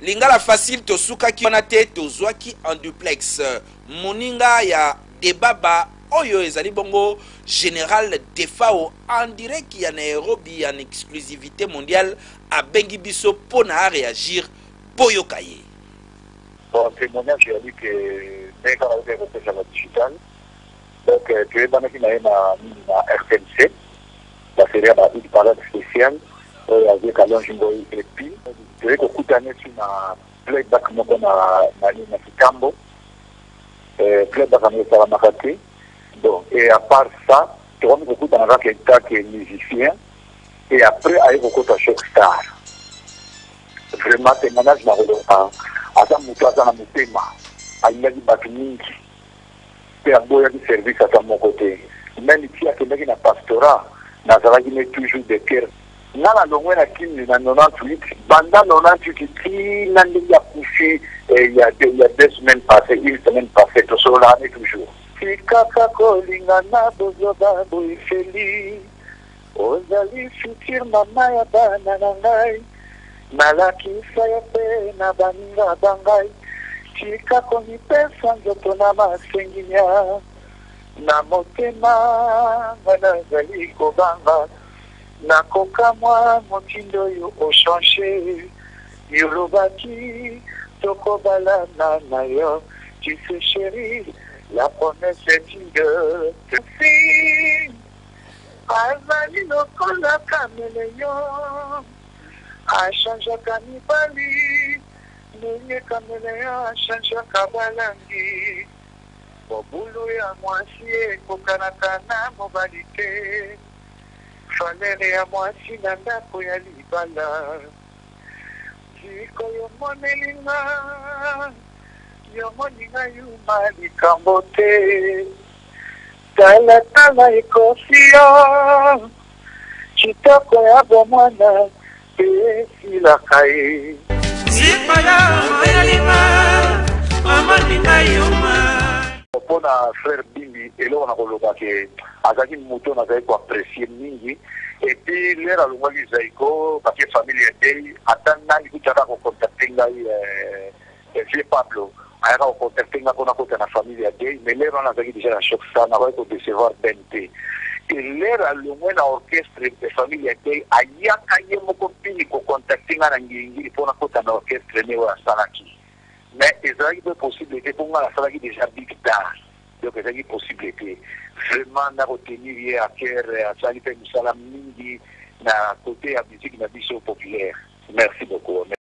lingala facile tosukaki wana te tozwaki en duplex moninga ya debaba oyo ezali bongo général defao en direct ya nairobi en exclusivité mondiale abengi biso mpo na aréagir boyoka ye bon témoignage ya liki ndenge kaka oyo ekopesa na digital Donc toyebanaki na ye na nini na rtnc ba serie ya ba hit parade special oyo ya vieux Kalonji Ngoyi et puis toye kokuta neti na playback moko na na nini na Kitambo eh, playback yango esalamaka te bon et à part ça tokomi kokutana kaka etat que musicien et après aye kokota choc star vraiment témoignage na koloba aza moto aza na motema alingaki bato mingi pe aboyaki service ata moko te meme ti akendaki na pastorat nazalaki ne toujours de coeur nga na longwe na kin na 98 banda 98 ti na ndenge akufi eh, ya de, ya deux semaines passe une semaine passe tosololaka ne toujours tikaka kolingana bozoba boye feli Ozali futur mama ya bana na ngai Nalakisa yo pe na baninga ba ngai Tika komipesa nzoto na masenginia Na motema nga nazali kobanga Nakokamwa motindo oyo o changer Y'olobaki tokobalana na yo Tu sais cherie la promesse est une de Azali lokola cameleon a changeaka mibali ndenge cameleon a changeaka ba langi mobulu ya muasi ekokanaka na mobali te valeur ya muasi na ndako ya libala sikoyo omoneli nga yo omoni nga yuma likambo te. Tala tala ekosi yo kitoko ya bomwana pe esilaka ye. Sipala onalinga amani na yo ma. Mpo na frère Bimbi eloko na koloba ke azalaki moto nazalaki ko apprecier mingi et puis l'heure alongwaki Zaiko bake famille ya deuil ata nani kutu aka ko contacter ngai Ya vieux Pablo ayaka ko contacter nga po nakota na famille ya deuil mais l'heure wana nazalaki dejà na choc ça nakokaki ko decevoir Ben te et l'heure alongwe na orchestre ya famille ya deuil ayaka ye moko pili ko contacter nga na ngiri ngiri po nakota na orchestre ne oyo asalaki mais ezalaki pe possible te po nga nasalaki dejà big star donc ezalaki possible te vraiment nako tenir ye à cœur asali pe misala mingi na cote ya musique na biso populaire merci beaucoup.